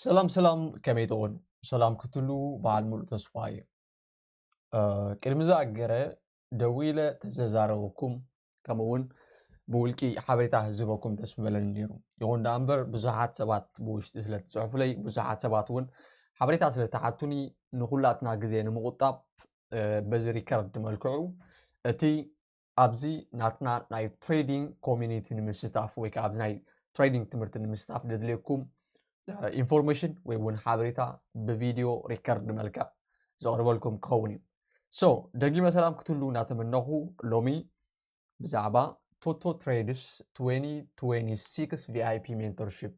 ሰላም ሰላም ከመይ ትኾኑ ሰላም ክትሉ በዓል ሙሉእ ተስፋ እዩ ቅድሚ ዝኣገረ ደው ኢለ ተዘዛረበኩም ከምኡ እውን ብውልቂ ሓበሬታ ህዝበኩም ደስ ምበለኒ ነይሩ ይኹን ዳኣ እምበር ብዙሓት ሰባት ብውሽጢ ስለ ትፅሕፉለይ ብዙሓት ሰባት እውን ሓበሬታ ስለ ተሓቱኒ ንኩላትና ግዜ ንምቁጣብ በዚ ሪከርድ መልክዑ እቲ ኣብዚ ናትና ናይ ትሬዲንግ ኮሚኒቲ ንምስታፍ ወይ ከዓ ኣብዚ ናይ ትሬዲንግ ትምህርቲ ንምስታፍ ዘድልየኩም ኢንፎርሜሽን ወይ እውን ሓበሬታ ብቪድዮ ሪከርድ መልክዕ ዘቕርበልኩም ክኸውን እዩ ሶ ደጊመ ሰላም ክትህሉ እናተመነኹ ሎሚ ብዛዕባ ቶቶ ትሬድስ 2026 ቪይፒ ሜንቶርሽፕ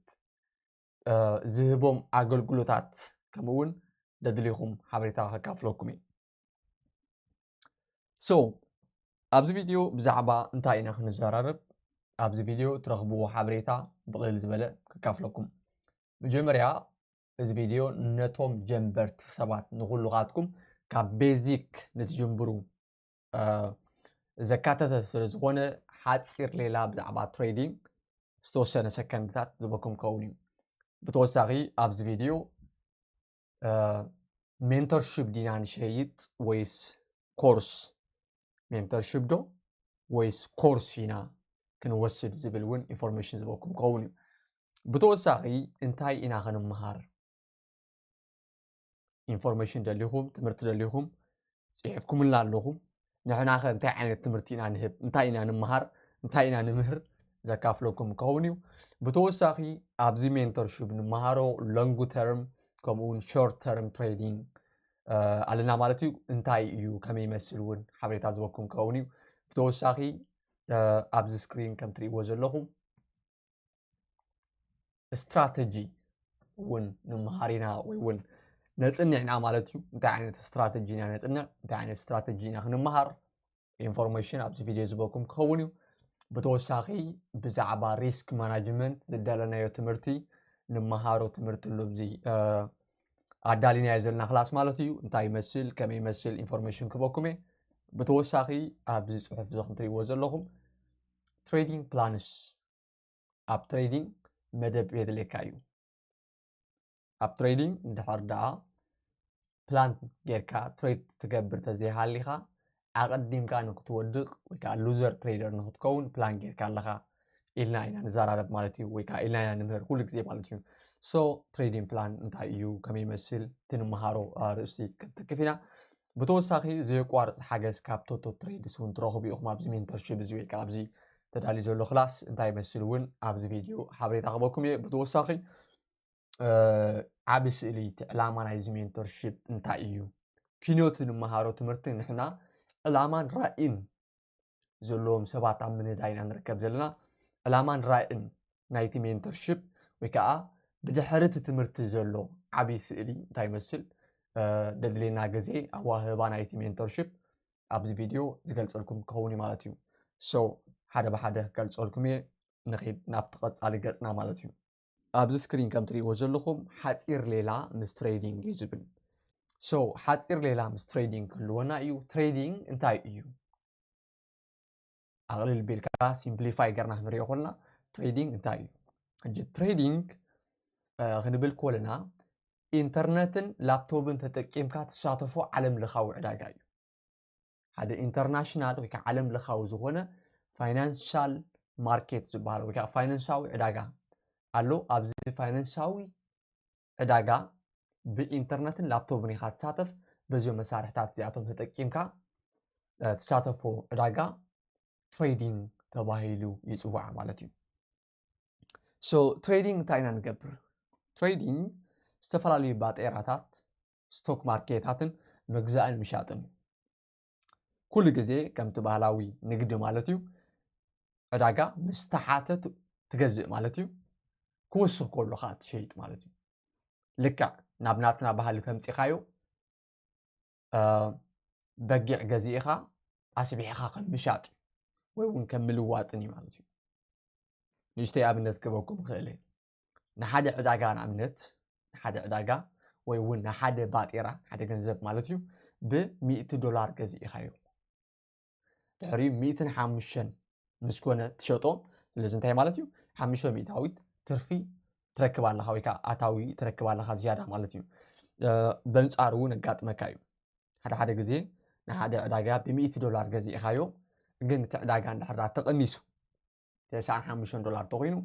ዝህቦም ኣገልግሎታት ከምኡውን ደድልኹም ሓበሬታ ከካፍለኩም እዩ ሶ ኣብዚ ቪድዮ ብዛዕባ እንታይ ኢና ክንዘራረብ ኣብዚ ቪድዮ ትረኽብዎ ሓበሬታ ብቕልል ዝበለ ከካፍለኩም መጀመርያ እዚ ቪድዮ ነቶም ጀንበርቲ ሰባት ንኩሉኻትኩም ካብ ቤዚክ ንትጅምብሩ ዘካተተ ስለ ዝኾነ ሓፂር ሌላ ብዛዕባ ትሬዲንግ ዝተወሰነ ሰከንድታት ዝበኩም ከውን እዩ ብተወሳኺ ኣብዚ ቪድዮ ሜንተርሽፕ ዲና ንሸይጥ ወይስ ኮርስ ሜንተርሽፕ ዶ ወይስ ኮርስ ኢና ክንወስድ ዝብል እውን ኢንፎርሜሽን ዝበኩም ክኸውን እዩ ብተወሳኺ እንታይ ኢና ክንምሃር ኢንፎርሜሽን ደሊኹም ትምህርቲ ደሊኹም ጽሒፍኩምልና ኣለኹም፣ ንሕናኸ እንታይ ዓይነት ትምህርቲ ኢና ንህብ፣ እንታይ ኢና ንምሃር፣ እንታይ ኢና ንምህር ዘካፍለኩም ክኸውን እዩ። ብተወሳኺ ኣብዚ ሜንተርሽፕ ንመሃሮ ሎንግ ተርም ከምኡውን ሾርት ተርም ትሬዲንግ ኣለና ማለት እዩ እንታይ እዩ ከመይ ይመስል እውን ሓበሬታ ዝበኩም ክኸውን እዩ ብተወሳኺ ኣብዚ ስክሪን ከም ትርእይዎ ዘለኹም ስትራተጂ እውን ንምሃር ኢና ወይ እውን ነፅንዕ ኢና ማለት እዩ እንታይ ዓይነት ስትራተጂ ኢና ነፅንዕ እንታይ ዓይነት ስትራተጂ ኢና ክንምሃር ኢንፎርሜሽን ኣብዚ ቪድዮ ዝበኩም ክኸውን እዩ ብተወሳኺ ብዛዕባ ሪስክ ማናጅመንት ዝደለናዮ ትምህርቲ ንምሃሮ ትምህርቲ ኣሎ እዚ ኣዳሊናዮ ዘለና ክላስ ማለት እዩ እንታይ ይመስል ከመይ ይመስል ኢንፎርሜሽን ክበኩም እየ ብተወሳኺ ኣብዚ ፅሑፍ እዚ ከምትሪእዎ ዘለኹም ትሬዲንግ ፕላንስ ኣብ ትሬዲንግ መደብ የድልየካ እዩ ኣብ ትሬዲንግ እንድሕር ደኣ ፕላን ጌርካ ትሬድ ትገብር ተዘይሃሊኻ ኣቐዲምካ ንክትወድቕ ወይ ከዓ ሉዘር ትሬደር ንክትከውን ፕላን ጌርካ ኣለኻ ኢልና ኢና ንዘራረብ ማለት እዩ ወይ ከዓ ኢልና ኢና ንምህር ኩሉ ግዜ ማለት እዩ ሶ ትሬዲንግ ፕላን እንታይ እዩ ከመይ ይመስል እቲ ንምሃሮ ርእሲ ክንትክፍ ኢና ብተወሳኺ ዘየቋርፅ ሓገዝ ካብ ቶቶ ትሬድስ እውን ትረኽቡ ኢኹም ኣብዚ ሜንተርሺፕ እዚ ወይ ከዓ ኣብዚ ተዳልዩ ዘሎ ክላስ እንታይ ይመስል እውን ኣብዚ ቪድዮ ሓበሬታ ክበኩም እየ ብተወሳኺ ዓብ ስእሊ እቲ ዕላማ ናይዚ ሜንቶርሽፕ እንታይ እዩ ኪኖት ንመሃሮ ትምህርቲ ንሕና ዕላማን ራእን ዘለዎም ሰባት ኣብ ምንዳይ ኢና ንርከብ ዘለና። ዕላማን ራእን ናይቲ ሜንተርሺፕ ወይ ከዓ ብድሕሪ እቲ ትምህርቲ ዘሎ ዓብዪ ስእሊ እንታይ ይመስል ደድሌና ግዜ ኣዋህባ ናይቲ ሜንተርሺፕ ኣብዚ ቪድዮ ዝገልፀልኩም ክኸውን እዩ ማለት እዩ። ሶ ሓደ ብሓደ ክገልፀልኩም እየ ንኺድ ናብቲ ቀፃሊ ገፅና ማለት እዩ። ኣብዚ ስክሪን ከም ትሪእዎ ዘለኹም ሓፂር ሌላ ምስ ትሬዲንግ እዩ ዝብል ሶ ሓፂር ሌላ ምስ ትሬዲንግ ክህልወና እዩ ትሬዲንግ እንታይ እዩ ኣቕልል ቢልካ ሲምፕሊፋይ ገርና ክንሪኦ ኮልና ትሬዲንግ እንታይ እዩ ሕጂ ትሬዲንግ ክንብል ኮለና ኢንተርነትን ላፕቶፕን ተጠቂምካ ትሳተፎ ዓለም ለኻዊ ዕዳጋ እዩ ሓደ ኢንተርናሽናል ወይ ከዓ ዓለም ለኻዊ ዝኾነ ፋይናንሻል ማርኬት ዝበሃል ወይ ከዓ ፋይናንሳዊ ዕዳጋ ኣሎ ኣብዚ ፋይናንሳዊ ዕዳጋ ብኢንተርነትን ላፕቶፕን ኢኻ ትሳተፍ በዚኦም መሳርሕታት እዚኣቶም ተጠቂምካ ትሳተፎ ዕዳጋ ትሬዲንግ ተባሂሉ ይፅዋዕ ማለት እዩ ሶ ትሬዲንግ እንታይ ኢና ንገብር ትሬዲንግ ዝተፈላለዩ ባጤራታት ስቶክ ማርኬታትን ምግዛእን ምሻጥን እዩ ኩሉ ግዜ ከምቲ ባህላዊ ንግዲ ማለት እዩ ዕዳጋ ምስ ተሓተ ትገዝእ ማለት እዩ ክወስኽ ከሎ ከዓ ትሸይጥ ማለት እዩ ልክዕ ናብ ናትና ባህሊ ተምፂኻዮ በጊዕ ገዚእኻ ኣስቢሕኻ ከም ምሻጥ ወይ እውን ከም ምልዋጥን እዩ ማለት እዩ ንእሽተይ ኣብነት ክበኩም ይኽእል እየ ንሓደ ዕዳጋ ንኣብነት ንሓደ ዕዳጋ ወይ እውን ንሓደ ባጤራ ሓደ ገንዘብ ማለት እዩ ብሚእቲ ዶላር ገዚእኻዮ ድሕሪ ሚእትን ሓሙሽተን ምስ ኮነ ትሸጦ ስለዚ እንታይ ማለት እዩ ሓሙሽተ ሚእታዊት ትርፊ ትረክብ ኣለካ ወይ ከዓ ኣታዊ ትረክብ ኣለካ ዝያዳ ማለት እዩ በንፃሩ እውን ኣጋጥመካ እዩ ሓደ ሓደ ግዜ ንሓደ ዕዳጋ ብሚእቲ ዶላር ገዚእኻዮ ግን እቲ ዕዳጋ እንድሕር ተቐኒሱ ተስዓን ሓሙሽተን ዶላር ተኮይኑ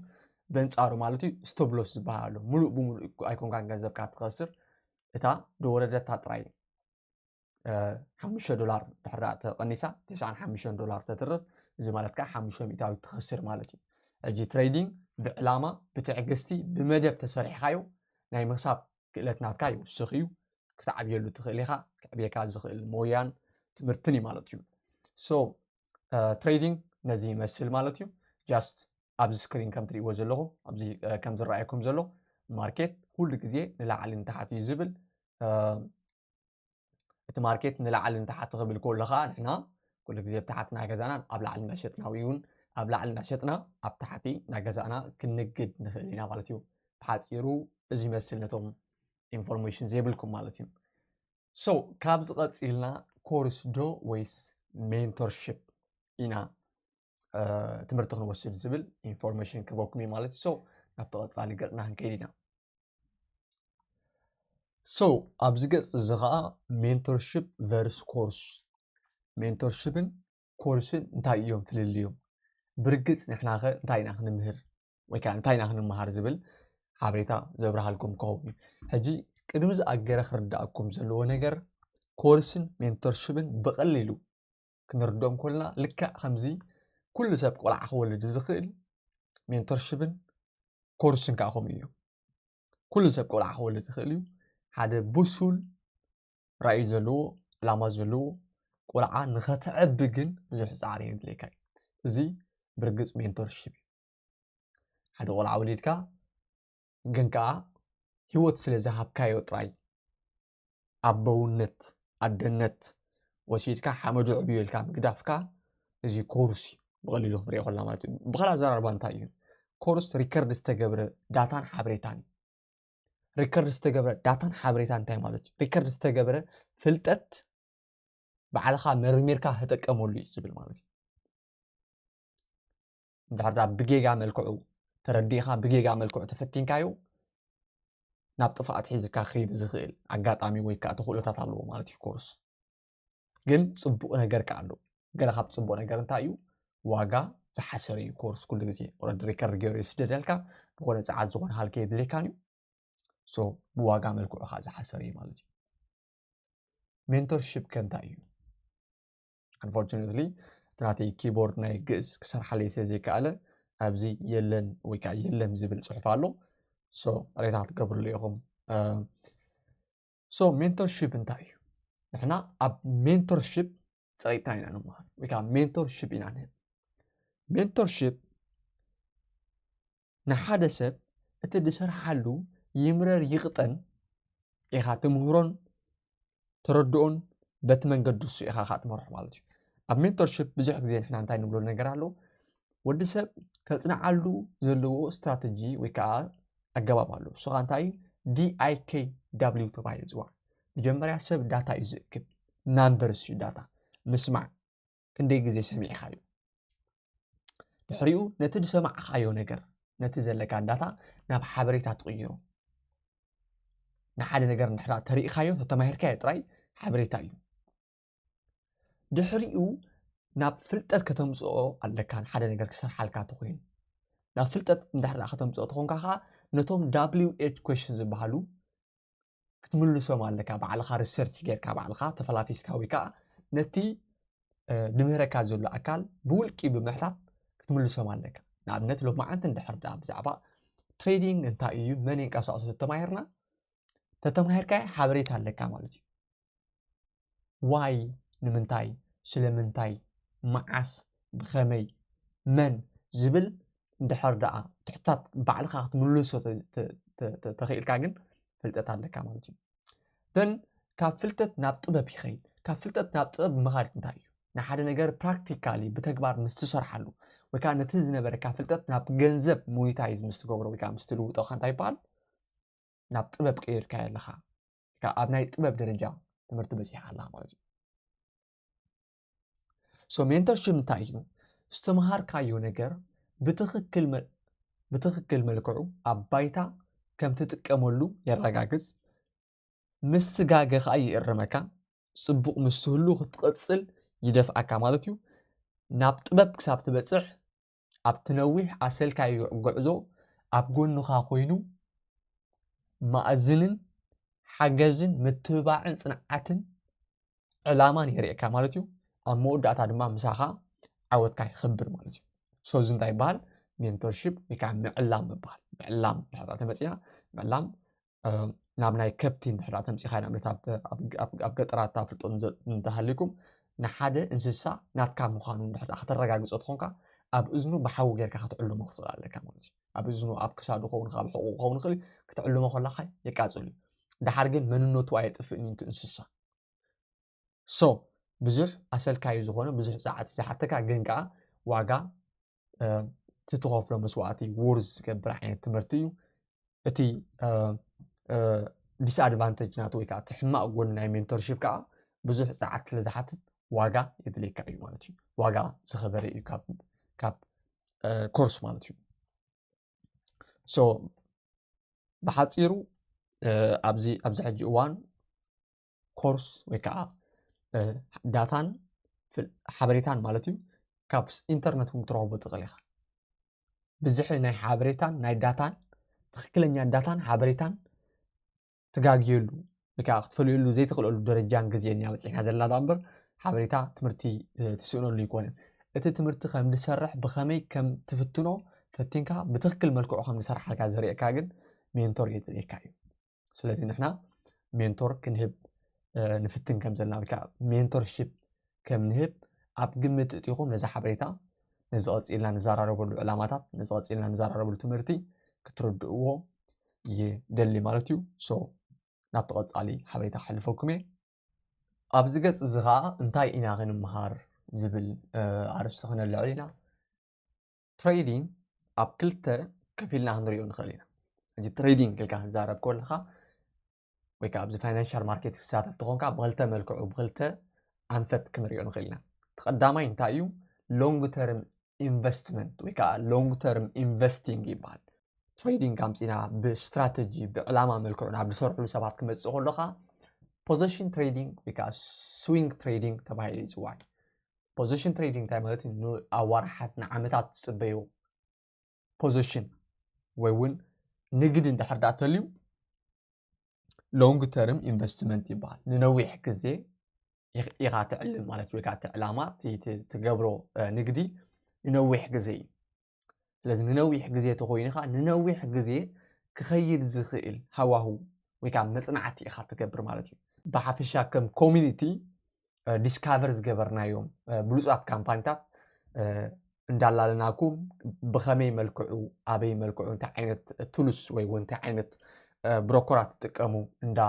በንጻሩ ማለት እዩ ስተብሎስ ዝበሃል ኣሎ ሙሉእ ብሙሉእ ኣይኮንካን ገንዘብካ ትኸስር እታ ደወረደታ ጥራይ ሓሙሽተ ዶላር ድሕራ ተቐኒሳ ተስዓን ሓሙሽተን ዶላር ተትርፍ እዚ ማለት ከዓ ሓሙሽተ ሚእታዊ ትኸስር ማለት እዩ ሕጂ ትሬዲንግ ብዕላማ ብትዕግስቲ ብመደብ ተሰሪሕካዮ ናይ ምክሳብ ክእለት ናትካ ይውስኽ እዩ ክትዓብየሉ ትኽእል ኢኻ ክዕብየካ ዝኽእል ሞያን ትምህርትን እዩ ማለት እዩ ሶ ትሬዲንግ ነዚ ይመስል ማለት እዩ ጃስት ኣብዚ ስክሪን ከም ትሪእዎ ዘለኹም ኣብዚ ከም ዝረኣየኩም ዘሎ ማርኬት ኩሉ ግዜ ንላዕሊ ንታሕቲ እዩ ዝብል እቲ ማርኬት ንላዕሊ ንታሕቲ ክብል ከሎ ከዓ ንሕና ኩሉ ግዜ ብታሕቲ ናይ ገዛና ኣብ ላዕሊ እናሸጥና ወይ እውን ኣብ ላዕሊ እናሸጥና ኣብ ታሕቲ ናይ ገዛእና ክንግድ ንኽእል ኢና ማለት እዩ ብሓፂሩ እዚ ይመስል ነቶም ኢንፎርሜሽን ዘይብልኩም ማለት እዩ ሶ ካብዚ ቀፂልና ኮርስ ዶ ወይስ ሜንቶርሽፕ ኢና ትምህርቲ ክንወስድ ዝብል ኢንፎርሜሽን ክበኩም እዩ ማለት እዩ ሶ ናብ ተቐፃሊ ገፅና ክንከይድ ኢና ሶ ኣብዚ ገፅ እዚ ከዓ ሜንቶርሽፕ ቨርስ ኮርስ ሜንቶርሽፕን ኮርስን እንታይ እዮም ፍልልዮም? ብርግጽ ንሕናኸ እንታይ ኢና ክንምህር ወይ ከዓ እንታይ ኢና ክንመሃር ዝብል ሓበሬታ ዘብርሃልኩም ክኸውን እዩ። ሕጂ ቅድሚ ዝኣገረ ክርዳእኩም ዘለዎ ነገር ኮርስን ሜንቶርሽብን ብቐሊሉ ክንርድኦም ኮልና ልክዕ ከምዚ ኩሉ ሰብ ቆልዓ ክወልድ ዝኽእል ሜንቶርሽብን ኮርስን ከዓ ከምኡ እዩ ኩሉ ሰብ ቆልዓ ክወልድ ይኽእል እዩ ሓደ ብሱል ራእዩ ዘለዎ ዕላማ ዘለዎ ቆልዓ ንኸተዕቢ ግን ብዙሕ ፃዕሪ የድልየካ እዩ እዚ ብርግፅ ሜንቶርሽፕ እዩ ሓደ ቆልዓ ወሊድካ ግን ከዓ ህይወት ስለ ዝሃብካዮ ጥራይ ኣቦውነት ኣደነት ወሲድካ ሓመዱ ዕብዩ ኢልካ ምግዳፍካ እዚ ኮርስ እዩ ብቐሊሉ ክንሪኦ ኮላ ማለት እዩ ብካልእ ኣዘራርባ እንታይ እዩ ኮርስ ሪከርድ ዝተገብረ ዳታን ሓበሬታን እዩ ሪከርድ ዝተገብረ ዳታን ሓበሬታ እንታይ ማለት እዩ ሪከርድ ዝተገብረ ፍልጠት ባዕልኻ መርሚርካ ተጠቀመሉ እዩ ዝብል ማለት እዩ እንድሕር ብጌጋ መልክዑ ተረዲእካ ብጌጋ መልክዑ ተፈቲንካዮ ናብ ጥፍኣት ሒዝካ ክይድ ዝኽእል ኣጋጣሚ ወይ ከዓ ተኽእሎታት ኣለዎ ማለት እዩ ኮርስ ግን ፅቡቅ ነገር ከዓ ኣሎ ገለ ካብ ፅቡቅ ነገር እንታይ እዩ ዋጋ ዝሓሰረ እዩ ኮርስ ኩሉ ግዜ ኦረዲ ሪከርድ ገይሩ ይስደደልካ ዝኾነ ፀዓት ዝኾነ ሃልከ የድልየካን እዩ ሶ ብዋጋ መልክዑ ከዓ ዝሓሰረ እዩ ማለት እዩ ሜንቶርሽፕ ከ እንታይ እዩ ኣንፎርቹነትሊ እቲ ናተይ ኪቦርድ ናይ ግእዝ ክሰርሓለይ ስለ ዘይከኣለ ኣብዚ የለን ወይ ከዓ የለን ዝብል ፅሑፍ ኣሎ ሶ ሬታ ትገብርሉ ኢኹም ሶ ሜንቶርሺፕ እንታይ እዩ ንሕና ኣብ ሜንቶርሺፕ ፀቂጥታ ኢና ንመሃር ወይ ከዓ ሜንቶርሺፕ ኢና ንህብ ሜንቶርሺፕ ንሓደ ሰብ እቲ ዝሰርሓሉ ይምረር ይቕጠን ኢኻ ትምህሮን ተረድኦን በቲ መንገዲ እሱ ኢኻ ከዓ ትመርሖ ማለት እዩ ኣብ ሜንቶርሽፕ ብዙሕ ግዜ ንሕና እንታይ ንብሎ ነገር ኣሎ ወዲ ሰብ ከፅንዓሉ ዘለዎ ስትራተጂ ወይ ከዓ ኣገባብ ኣሎ እሱ ኸዓ እንታይ እዩ DIKW ተባሂሉ ይፅዋዕ መጀመርያ ሰብ ዳታ እዩ ዝእክብ ናምበርስ እዩ ዳታ ምስማዕ ክንደይ ግዜ ሰሚዕኻዮ ድሕሪኡ ነቲ ዝሰማዕኻዮ ነገር ነቲ ዘለካ ዳታ ናብ ሓበሬታ ትቕይሮ ንሓደ ነገር ንድሕራ ተሪእኻዮ ተተማሂርካዮ ጥራይ ሓበሬታ እዩ ድሕሪኡ ናብ ፍልጠት ከተምፅኦ ኣለካ ሓደ ነገር ክሰርሓልካ ተኮይኑ ናብ ፍልጠት እንድሕር ከተምፅኦ ተኾንካ ከዓ ነቶም ዳብሊው ኤች ኮሽን ዝበሃሉ ክትምልሶም ኣለካ ባዕልካ ሪሰርች ጌርካ ባዕልካ ተፈላፊስካ ወይ ከዓ ነቲ ንምህረካ ዘሎ ኣካል ብውልቂ ብምሕታት ክትምልሶም ኣለካ ንኣብነት ሎ መዓንቲ እንድሕር ዳ ብዛዕባ ትሬዲንግ እንታይ እዩ መን የንቀሳቅሶ ተተማሂርና ተተማሂርካ ሓበሬታ ኣለካ ማለት እዩ ዋይ ንምንታይ ስለምንታይ መዓስ ብኸመይ መን ዝብል እንድሕር ደኣ ትሕታት ባዕልኻ ክትምልሶ ተኽኢልካ ግን ፍልጠት ኣለካ ማለት እዩ ተን ካብ ፍልጠት ናብ ጥበብ ይኸይድ ካብ ፍልጠት ናብ ጥበብ ምኻድ እንታይ እዩ ንሓደ ነገር ፕራክቲካሊ ብተግባር ምስ ትሰርሓሉ ወይ ከዓ ነቲ ዝነበረካ ፍልጠት ናብ ገንዘብ ሞኒታይዝ ምስ ትገብሮ ወይ ከዓ ምስ ትልውጦ እንታይ ይበሃል ናብ ጥበብ ቀይርካዮ ኣለኻ እታ ኣብ ናይ ጥበብ ደረጃ ትምህርቲ በፂሓ ኣላ ማለት እዩ ሶ ሜንተርሽፕ እንታይ እዩ ዝተምሃርካዮ ነገር ብትኽክል ብትኽክል መልክዑ ኣብ ባይታ ከም ትጥቀመሉ የረጋግፅ ምስ ስጋገ ከዓ ይእርመካ ፅቡቕ ምስ ህሉ ክትቐፅል ይደፍኣካ ማለት እዩ ናብ ጥበብ ክሳብ ትበፅሕ ኣብቲ ነዊሕ ኣሰልካይ ጉዕዞ ኣብ ጎንኻ ኮይኑ ማእዝንን ሓገዝን ምትብባዕን ጽንዓትን ዕላማን የርእካ ማለት እዩ ኣብ መወዳእታ ድማ ምሳኻ ዓወትካ ይኽብር ማለት እዩ ሰዚ እንታይ ይበሃል ሜንቶርሽፕ ወይ ከዓ ምዕላም ምበሃል ምዕላም ድሕራ ተመፅና ምዕላም ናብ ናይ ከብቲ እንድሕር ተምፂኻ ንኣብነት ኣብ ገጠራት ኣፍልጦ እንተሃልዩኩም ንሓደ እንስሳ ናትካ ምዃኑ እንድሕር ከተረጋግፆ ትኾንካ ኣብ እዝኑ ብሓዊ ጌርካ ክትዕልሞ ክትኽእል ኣለካ ማለት እዩ ኣብ እዝኑ ኣብ ክሳዱ ኸውን ካብ ሕቑ ክኸውን ይኽእል ክትዕልሞ ከለካ የቃፅል እዩ ድሓር ግን መንነቱ ኣየጥፍእን እዩ እቲ እንስሳ so ብዙሕ ኣሰልካዩ ዝኾነ ብዙሕ ጸዓት እዩ ዝሓተካ ግን ከዓ ዋጋ እቲ ትኸፍሎ መስዋእቲ ወርዝ ዝገብር ዓይነት ትምህርቲ እዩ እቲ ዲስኣድቫንቴጅ ናቱ ወይ ከዓ እቲ ሕማቅ ጎኒ ናይ ሜንቶርሽፕ ከዓ ብዙሕ ጸዓት ስለ ዝሓትት ዋጋ የድልየካ እዩ ማለት እዩ ዋጋ ዝኸበረ እዩ ካብ ኮርስ ማለት እዩ ሶ ብሓፂሩ ኣብዚ ኣብዚ ሕጂ እዋን ኮርስ ወይ ከዓ ዳታን ሓበሬታን ማለት እዩ ካብ ኢንተርነት እውን ክትረኽቦ ትኽእል ኢኻ ብዝሒ ናይ ሓበሬታን ናይ ዳታን ትክክለኛ ዳታን ሓበሬታን ትጋግየሉ ወይ ከዓ ክትፈልየሉ ዘይትኽእለሉ ደረጃን ግዜን እያ በፂሕና ዘለና ዳ እምበር ሓበሬታ ትምህርቲ ትስእነሉ ኣይኮነን እቲ ትምህርቲ ከም ዝሰርሕ ብኸመይ ከም ትፍትኖ ፈቲንካ ብትክክል መልክዑ ከም ዝሰርሓልካ ዘርእየካ ግን ሜንቶር የድልየካ እዩ ስለዚ ንሕና ሜንቶር ክንህብ ንፍትን ከም ዘለና ወይ ከዓ ሜንቶርሺፕ ከም ንህብ ኣብ ግምት እጢኹም ነዚ ሓበሬታ ነዚ ቐፂልና ንዘራረበሉ ዕላማታት ነዚ ቐፂልና ንዘራረበሉ ትምህርቲ ክትርድእዎ ይደሊ ማለት እዩ ሶ ናብቲ ቐፃሊ ሓበሬታ ክሕልፈኩም እየ ኣብዚ ገፅ እዚ ከዓ እንታይ ኢና ክንምሃር ዝብል ኣርእስቲ ክነልዕል ኢና ትሬዲንግ ኣብ ክልተ ከፊልና ክንሪኦ ንኽእል ኢና ሕጂ ትሬዲንግ ክልካ ክዛረብ ከለካ ወይ ከዓ ኣብዚ ፋይናንሻል ማርኬት ክሳተፍ ትኾንካ ብክልተ መልክዑ ብክልተ ኣንፈት ክንሪኦ ንኽእል ኢና እቲ ቀዳማይ እንታይ እዩ ሎንግ ተርም ኢንቨስትመንት ወይ ከዓ ሎንግ ተርም ኢንቨስቲንግ ይበሃል ትሬዲንግ ኣምፂና ብስትራተጂ ብዕላማ መልክዑ ናብ ዝሰርሕሉ ሰባት ክመፅእ ከለካ ፖዘሽን ትሬዲንግ ወይ ከዓ ስዊንግ ትሬዲንግ ተባሂሉ ይፅዋዕ ፖዚሽን ትሬዲንግ እንታይ ማለት እዩ ንኣዋርሓት ንዓመታት ዝፅበዩ ፖዚሽን ወይ እውን ንግድ እንድሕር ዳኣ ተልዩ ሎንግ ተርም ኢንቨስትመንት ይበሃል ንነዊሕ ግዜ ኢኻ ትዕልም ማለት ወይ ከዓ እቲ ዕላማ ትገብሮ ንግዲ ንነዊሕ ግዜ እዩ ስለዚ ንነዊሕ ግዜ ተኾይኑ ኸዓ ንነዊሕ ግዜ ክኸይድ ዝኽእል ሃዋሁ ወይ ከዓ መፅናዕቲ ኢኻ ትገብር ማለት እዩ ብሓፈሻ ከም ኮሚኒቲ ዲስካቨር ዝገበርናዮም ብሉፃት ካምፓኒታት እንዳላለናኩም ብኸመይ መልክዑ ኣበይ መልክዑ እንታይ ዓይነት ቱሉስ ወይ እውን እንታይ ዓይነት ብሮኮራት ትጥቀሙ እንዳ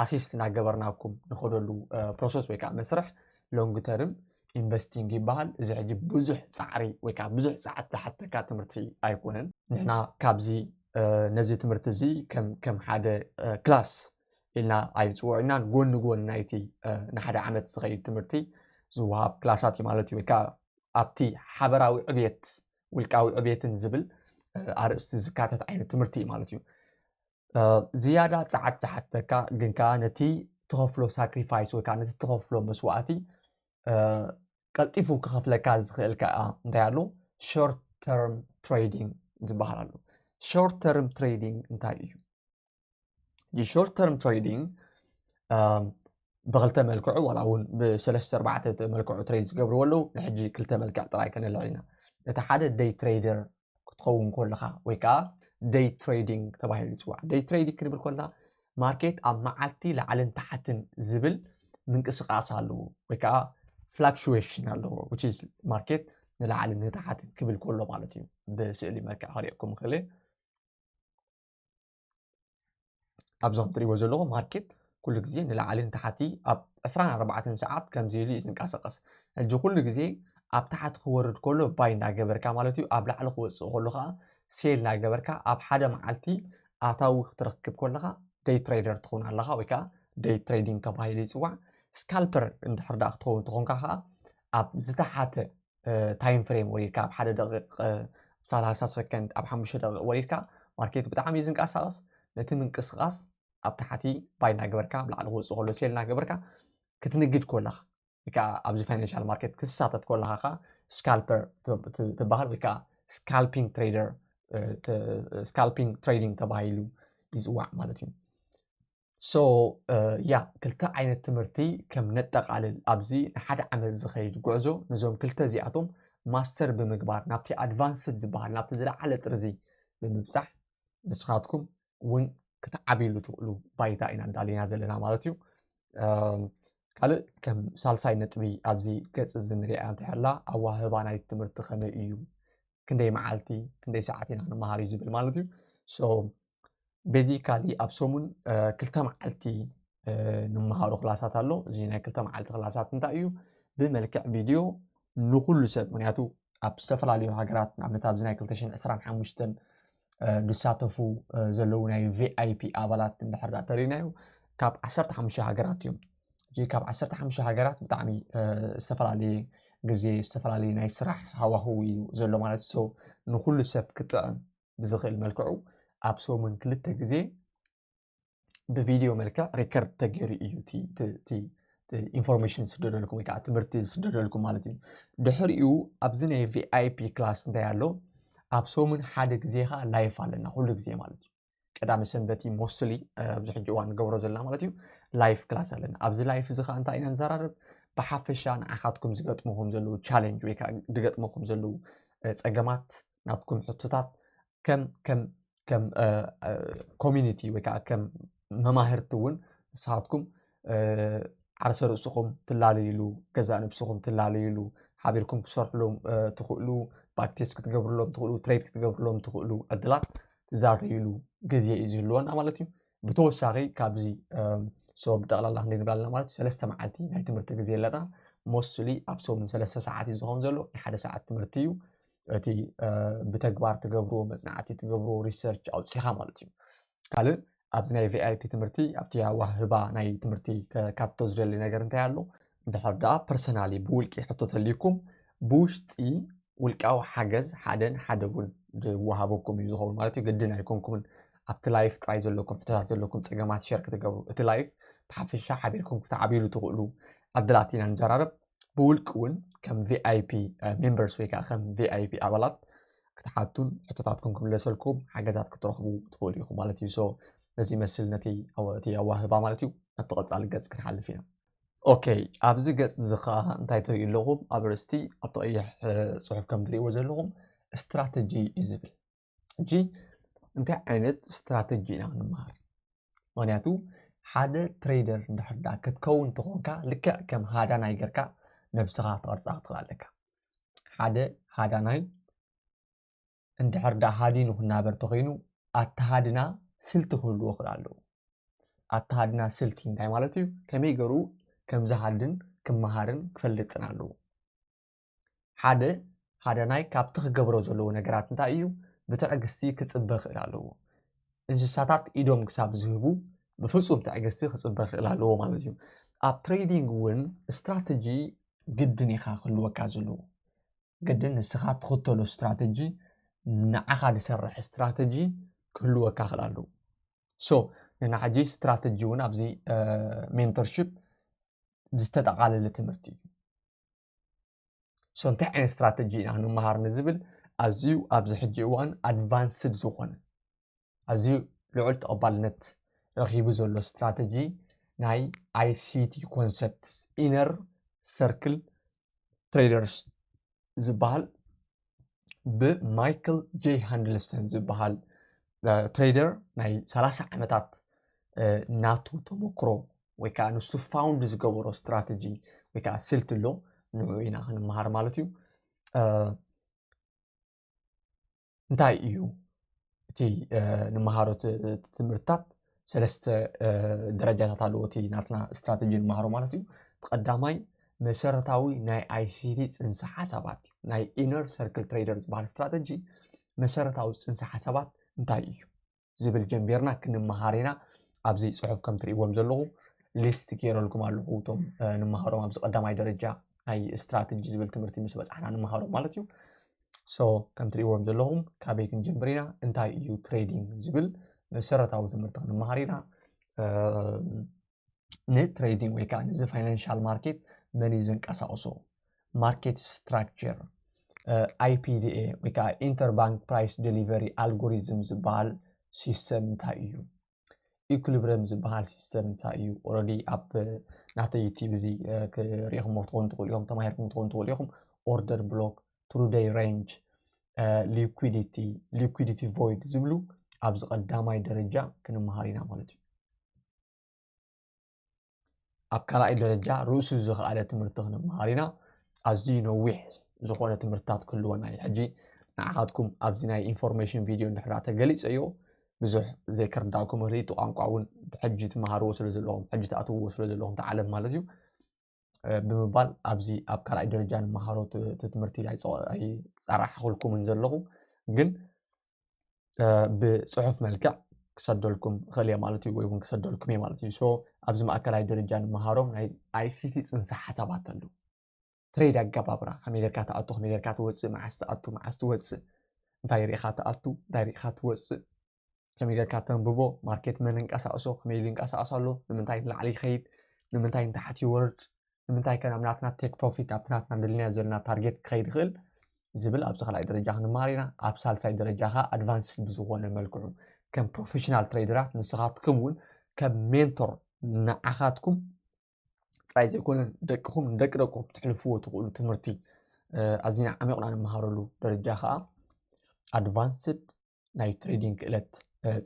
ኣሲስት ናገበርናኩም ንኸደሉ ፕሮሰስ ወይ ከዓ መስርሕ ሎንግ ተርም ኢንቨስቲንግ ይበሃል እዚ ሕጂ ብዙሕ ፃዕሪ ወይ ከዓ ብዙሕ ፀዓት ዝሓተካ ትምህርቲ ኣይኮነን ንሕና ካብዚ ነዚ ትምህርቲ እዚ ከም ሓደ ክላስ ኢልና ኣይንፅውዖ ኢና ጎኒ ጎኒ ናይቲ ንሓደ ዓመት ዝኸይድ ትምህርቲ ዝወሃብ ክላሳት እዩ ማለት እዩ ወይ ከዓ ኣብቲ ሓበራዊ ዕብየት ውልቃዊ ዕብየትን ዝብል ኣርእስቲ ዝካተት ዓይነት ትምህርቲ እዩ ማለት እዩ ዝያዳ ጸዓት ዝሓተካ ግን ከኣ ነቲ ትኸፍሎ ሳክሪፋይስ ወይ ከዓ ነቲ ትኸፍሎ መስዋእቲ ቀልጢፉ ክኸፍለካ ዝኽእል ከዓ እንታይ ኣሎ ሾርት ተርም ትሬዲንግ ዝበሃል ኣሎ ሾርት ተርም ትሬዲንግ እንታይ እዩ የሾርት ተርም ትሬዲንግ ብክልተ መልክዑ ዋላ እውን ብሰለስተ ኣርባዕተ መልክዑ ትሬድ ዝገብርዎ ኣለዉ ንሕጂ ክልተ መልክዕ ጥራይ ከነልዕል ኢና እቲ ሓደ ደይ ትሬደር ክትኸውን ኮለኻ ወይ ከዓ ደይ ትሬዲንግ ተባሂሉ ይፅዋዕ ደይ ትሬዲንግ ክንብል ኮና ማርኬት ኣብ መዓልቲ ላዕልን ታሓትን ዝብል ምንቅስቃስ ኣለዎ ወይ ከዓ ፍላክሽዌሽን ኣለዎ ማርኬት ንላዕሊ ንታሓትን ክብል ኮሎ ማለት እዩ ብስእሊ መልክዕ ክሪኤኩም ክእል ኣብዚ ከምትሪእዎ ዘለኹም ማርኬት ኩሉ ግዜ ንላዕሊ ንታሕቲ ኣብ 24 ሰዓት ከምዚ ኢሉ እዩ ዝንቀሳቐስ ሕጂ ኩሉ ግዜ ኣብ ታሕቲ ክወርድ ከሎ ባይ እናገበርካ ማለት እዩ ኣብ ላዕሊ ክወፅእ ከሎ ከዓ ሴል እናገበርካ ኣብ ሓደ መዓልቲ ኣታዊ ክትረክብ ከለካ ደይ ትሬደር ትኸውን ኣለካ ወይ ከዓ ደይ ትሬዲንግ ተባሂሉ ይፅዋዕ ስካልፐር እንድሕር ዳኣ ክትኸውን ተኾንካ ከዓ ኣብ ዝተሓተ ታይም ፍሬም ወሪድካ ኣብ ሓደ ደቂቕ ሰላሳ ሰከንድ ኣብ ሓሙሽተ ደቂቕ ወሪድካ ማርኬት ብጣዕሚ እዩ ዝንቀሳቐስ ነቲ ምንቅስቓስ ኣብ ታሕቲ ባይ እናገበርካ ኣብ ላዕሊ ክወፅእ ከሎ ሴል እናገበርካ ክትንግድ ኮለኻ ወይ ከዓ ኣብዚ ፋይናንሻል ማርኬት ክትሳተፍ ኮለኻ ከዓ ስካልፐር ትበሃል ወይ ከዓ ስካልፒንግ ትሬደር ስካልፒንግ ትሬዲንግ ተባሂሉ ይፅዋዕ ማለት እዩ ሶ ያ ክልተ ዓይነት ትምህርቲ ከም ነጠቓልል ኣብዚ ንሓደ ዓመት ዝኸይድ ጉዕዞ ነዞም ክልተ እዚኣቶም ማስተር ብምግባር ናብቲ ኣድቫንስድ ዝበሃል ናብቲ ዝለዓለ ጥርዚ ብምብፃሕ ንስኻትኩም እውን ክትዓብይሉ ትኽእሉ ባይታ ኢና እንዳለና ዘለና ማለት እዩ ካልእ ከም ሳልሳይ ነጥቢ ኣብዚ ገፅ እዚ ንሪኣ እንተላ ኣዋህባ ናይ ትምህርቲ ከመይ እዩ ክንደይ መዓልቲ ክንደይ ሰዓት ኢና ንመሃር እዩ ዝብል ማለት እዩ ቤዚካሊ ኣብ ሰሙን ክልተ መዓልቲ ንመሃሮ ክላሳት ኣሎ እዚ ናይ ክልተ መዓልቲ ክላሳት እንታይ እዩ ብመልክዕ ቪድዮ ንኩሉ ሰብ ምክንያቱ ኣብ ዝተፈላለዩ ሃገራት ንኣብነት ኣብዚ ናይ 225 ዝሳተፉ ዘለዉ ናይ ቪይፒ ኣባላት እንድሕር ዳ ተሪናዮ ካብ 15 ሃገራት እዮም እዚ ካብ 15 ሃገራት ብጣዕሚ ዝተፈላለየ ግዜ ዝተፈላለየ ናይ ስራሕ ሃዋህው እዩ ዘሎ ማለት ንኩሉ ሰብ ክጥዕም ብዝኽእል መልክዑ ኣብ ሰሙን ክልተ ግዜ ብቪድዮ መልክዕ ሪከርድ ተገይሩ እዩ እቲ ኢንፎርሜሽን ዝስደደልኩም ወይ ከዓ ትምህርቲ ዝስደደልኩም ማለት እዩ ድሕሪኡ ኣብዚ ናይ ቪኣይፒ ክላስ እንታይ ኣሎ ኣብ ሰሙን ሓደ ግዜ ከዓ ላይፍ ኣለና ኩሉ ግዜ ማለት እዩ ቀዳሚ ሰንበት እዩ ሞስሊ ኣብዚ ሕጂ እዋን ንገብሮ ዘለና ማለት እዩ ላይፍ ክላስ ኣለና ኣብዚ ላይፍ እዚ ከዓ እንታይ ኢና ንዘራርብ ብሓፈሻ ንዓኻትኩም ዝገጥምኹም ዘለዉ ቻለንጅ ወይ ከዓ ዝገጥምኹም ዘለዉ ፀገማት ናትኩም ሕቶታት ከም ከም ከም ኮሚኒቲ ወይ ከዓ ከም መማህርቲ እውን ንስኻትኩም ዓርሰ ርእስኹም ትላለይሉ ገዛ ነብስኹም ትላለይሉ ሓቢርኩም ክሰርሕሎም ትኽእሉ ባክቴስ ክትገብርሎም ትኽእሉ ትሬድ ክትገብርሎም ትኽእሉ ዕድላት ትዛተይሉ ግዜ እዩ ዝህልወና ማለት እዩ ብተወሳኺ ካብዚ ሶ ብጠቕላላ ክንደይ ንብላ ኣለና ማለት ሰለስተ መዓልቲ ናይ ትምህርቲ ግዜ ኣለና ሞስትሊ ኣብ ሰሙን ሰለስተ ሰዓት እዩ ዝኸውን ዘሎ ናይ ሓደ ሰዓት ትምህርቲ እዩ እቲ ብተግባር ትገብርዎ መፅናዕቲ ትገብርዎ ሪሰርች ኣውፅኻ ማለት እዩ ካልእ ኣብዚ ናይ ቪኣይፒ ትምህርቲ ኣብቲ ኣዋህባ ናይ ትምህርቲ ካብቶ ዝደሊ ነገር እንታይ ኣሎ ድሕር ደኣ ፐርሰናሊ ብውልቂ ሕቶ ተልዩኩም ብውሽጢ ውልቃዊ ሓገዝ ሓደን ሓደ እውን ዝወሃበኩም እዩ ዝኸውን ማለት እዩ ግድን ኣይኮንኩምን ኣብቲ ላይፍ ጥራይ ዘለኩም ሕቶታት ዘለኩም ፀገማት ሸር ክትገብሩ እቲ ላይፍ ብሓፈሻ ሓቢርኩም ክትዓብይሉ ትኽእሉ ዕድላት ኢና ንዘራረብ ብውልቂ እውን ከም ቪኣይፒ ሜምበርስ ወይ ከዓ ከም ቪኣይፒ ኣባላት ክትሓቱን ሕቶታትኩም ክምለሰልኩም ሓገዛት ክትረኽቡ ትኽእሉ ኢኹም ማለት እዩ ሶ ነዚ ይመስል ነቲ እቲ ኣዋህባ ማለት እዩ ናብቲ ቀፃሊ ገፅ ክንሓልፍ ኢና ኦከይ ኣብዚ ገጽ እዚ ከኣ እንታይ ትርእዩ ኣለኹም ኣብ ርእስቲ ኣብቲ ቀይሕ ጽሑፍ ከም ትርእይዎ ዘለኹም ስትራተጂ እዩ ዝብል ሕጂ እንታይ ዓይነት ስትራተጂ ኢና ክንምሃር ምክንያቱ ሓደ ትሬደር እንድሕር ዳ ክትከውን ተኾንካ ልክዕ ከም ሃዳናይ ጌርካ ነብስኻ ትቐርጻ ክትኽእል ኣለካ ሓደ ሃዳናይ እንድሕር ደኣ ሃዲኑ ክናበር ተኾይኑ ኣተሃድና ስልቲ ክህልዎ ክል ኣለዎ። ኣተሃድና ስልቲ እንታይ ማለት እዩ? ከመይ ገሩ ከም ዝሃድን ክመሃርን ክፈልጥን ኣለዎ። ሓደ ሃዳናይ ካብቲ ክገብሮ ዘለዎ ነገራት እንታይ እዩ? ብትዕግስቲ ክጽበ ክል ኣለዎ። እንስሳታት ኢዶም ክሳብ ዝህቡ ብፍጹም ትዕግስቲ ክጽበ ክል ኣለዎ ማለት እዩ። ኣብ ትሬዲንግ እውን ስትራተጂ ግድን ኢኻ ክህልወካ ዘለዎ። ግድን ንስኻ ትኽተሎ ስትራተጂ ንዓኻ ዝሰርሕ ስትራተጂ ክህልወካ ክእል ኣለዎ ሶ ንናሕጂ ስትራተጂ እውን ኣብዚ ሜንተርሽፕ ዝተጠቓለለ ትምህርቲ እዩ ሶ እንታይ ዓይነት ስትራተጂ ኢና ክንመሃር ንዝብል ኣዝዩ ኣብዚ ሕጂ እዋን ኣድቫንስድ ዝኾነ ኣዝዩ ልዑል ተቐባልነት ረኺቡ ዘሎ ስትራተጂ ናይ ኣይሲቲ ኮንሰፕትስ ኢነር ሰርክል ትሬደርስ ዝበሃል ብማይክል ጄይ ሃንድልስተን ዝበሃል ትሬደር ናይ ሰላሳ ዓመታት ናቱ ተመክሮ ወይ ከዓ ንሱ ፋውንድ ዝገበሮ ስትራተጂ ወይ ከዓ ስልቲ ኣሎ ንዑ ኢና ክንመሃር ማለት እዩ እንታይ እዩ እቲ ንመሃሮ ትምህርትታት ሰለስተ ደረጃታት ኣለዎ እቲ ናትና ስትራተጂ ንመሃሮ ማለት እዩ ቀዳማይ መሰረታዊ ናይ ኣይሲቲ ፅንሰ ሓሳባት እዩ ናይ ኢነር ሰርክል ትሬደር ዝበሃል ስትራተጂ መሰረታዊ ፅንሰ ሓሳባት እንታይ እዩ ዝብል ጀምቢርና ክንመሃር ኢና ኣብዚ ጽሑፍ ከም ትርእዎም ዘለኹ ሊስት ገይረልኩም ኣለኹ እቶም ንመሃሮም ኣብዚ ቀዳማይ ደረጃ ናይ ስትራቴጂ ዝብል ትምህርቲ ምስ በጻሕና ንመሃሮም ማለት እዩ ሶ ከም ትርእዎም ዘለኹም ካበይ ክንጀምር ኢና እንታይ እዩ ትሬዲንግ ዝብል መሰረታዊ ትምህርቲ ክንመሃር ኢና ንትሬዲንግ ወይ ከዓ ነዚ ፋይናንሻል ማርኬት መን እዩ ዘንቀሳቕሶ ማርኬት ስትራክቸር ኣይፒዲኤ ወይ ከዓ ኢንተርባንክ ፕራይስ ዴሊቨሪ ኣልጎሪዝም ዝበሃል ሲስተም እንታይ እዩ ኢኩሊብረም ዝበሃል ሲስተም እንታይ እዩ ኦረዲ ኣብ ናተይ ዩቲብ እዚ ክሪኢኹምዎ ትኾኑ ትኽእሉ ኢኹም ተማሂርኩም ትኾኑ ትኽእሉ ኢኹም ኦርደር ብሎክ ትሩ ደይ ሬንጅ፣ ሊኩዲቲ፣ ሊኩዲቲ ቮይድ ዝብሉ ኣብዚ ቀዳማይ ደረጃ ክንመሃር ኢና ማለት እዩ። ኣብ ካልኣይ ደረጃ ርእሱ ዝኸኣለ ትምህርቲ ክንመሃር ኢና ኣዝዩ ነዊሕ ዝኾነ ትምህርትታት ክህልወና እዩ ሕጂ ንዓኻትኩም ኣብዚ ናይ ኢንፎርሜሽን ቪድዮ እንድሕራ ተገሊፀ እዮ ብዙሕ ዘይክርዳእኩም ርእቲ ቋንቋ እውን ሕጂ ትመሃርዎ ስለ ዘለኹም ሕጂ ትኣትውዎ ስለ ዘለኹም ተዓለም ማለት እዩ ብምባል ኣብዚ ኣብ ካልኣይ ደረጃ ንመሃሮ እቲ ትምህርቲ ኣይፀራሕኹልኩምን ዘለኹ ግን ብፅሑፍ መልክዕ ክሰደልኩም እኽእል እየ ማለት እዩ ወይ እውን ክሰደልኩም እየ ማለት እዩ ሶ ኣብዚ ማእከላይ ደረጃ ንመሃሮ ናይ ኣይሲቲ ፅንሰ ሓሳባት ኣሉ ትሬድ ኣገባብራ ከመይ ጌርካ ትኣቱ ከመይ ጌርካ ትወፅእ መዓስ ትኣቱ መዓስ ትወፅእ እንታይ ርኢኻ ትኣቱ እንታይ ርኢኻ ትወፅእ ከመይ ጌርካ ተንብቦ ማርኬት መን እንቀሳቅሶ ከመይ ኢሉ ይንቀሳቀስ ኣሎ ንምንታይ ንላዕሊ ይኸይድ ንምንታይ ንታሕቲ ይወርድ ንምንታይ ከ ናብ ናትና ቴክ ፕሮፊት ኣብቲ ናትና ደልናዮ ዘለና ታርጌት ክኸይድ ይኽእል ዝብል ኣብዚ ካልኣይ ደረጃ ክንመሃር ኢና ኣብ ሳልሳይ ደረጃ ከዓ ኣድቫንስ ብዝኾነ መልክዑ ከም ፕሮፌሽናል ትሬደራት ንስኻትኩም እውን ከም ሜንቶር ንዓኻትኩም ጥራይ ዘይኮነ ደቅኹም ንደቂ ደቅኹም ትሕልፍዎ ትኽእሉ ትምህርቲ ኣዝና ዓሚቕና ንምሃረሉ ደረጃ ከዓ ኣድቫንስድ ናይ ትሬዲንግ ክእለት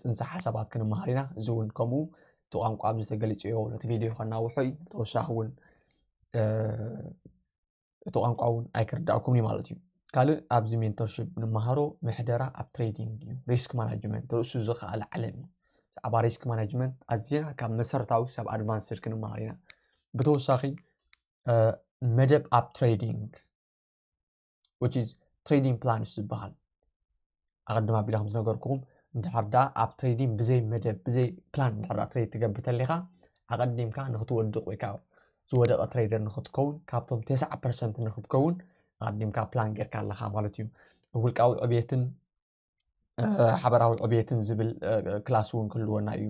ፅንሰ ሓሳባት ክንመሃር ኢና እዚ እውን ከምኡ እቲ ቋንቋ ኣብዚ ተገሊፁ ዮ ነቲ ቪድዮ ከናውሖ እዩ ብተወሳኺ እውን እቲ ቋንቋ እውን ኣይክርዳእኩም እዩ ማለት እዩ ካልእ ኣብዚ ሜንተርሽፕ ንመሃሮ ምሕደራ ኣብ ትሬዲንግ እዩ ሪስክ ማናጅመንት ርእሱ ዝኸኣለ ዓለም እዩ ብዛዕባ ሪስክ ማናጅመንት ኣዝና ካብ መሰረታዊ ሰብ ኣድቫንስድ ክንመሃር ኢና ብተወሳኺ መደብ ኣብ ትሬዲንግ which is trading plans ዝበሃል ኣቐድም ኣቢለ ከም ዝነገርኩኹም እንድሕር ዳ ኣብ ትሬዲንግ ብዘይ መደብ ብዘይ ፕላን እንድሕር ዳ ትሬድ ትገብር ተለኻ ኣቐዲምካ ንክትወድቕ ወይ ከዓ ዝወደቐ ትሬደር ንክትከውን ካብቶም ተስዓ ፐርሰንት ንክትከውን ኣቐዲምካ ፕላን ጌርካ ኣለኻ ማለት እዩ ውልቃዊ ዕብየትን ሓበራዊ ዕብየትን ዝብል ክላስ እውን ክህልወና እዩ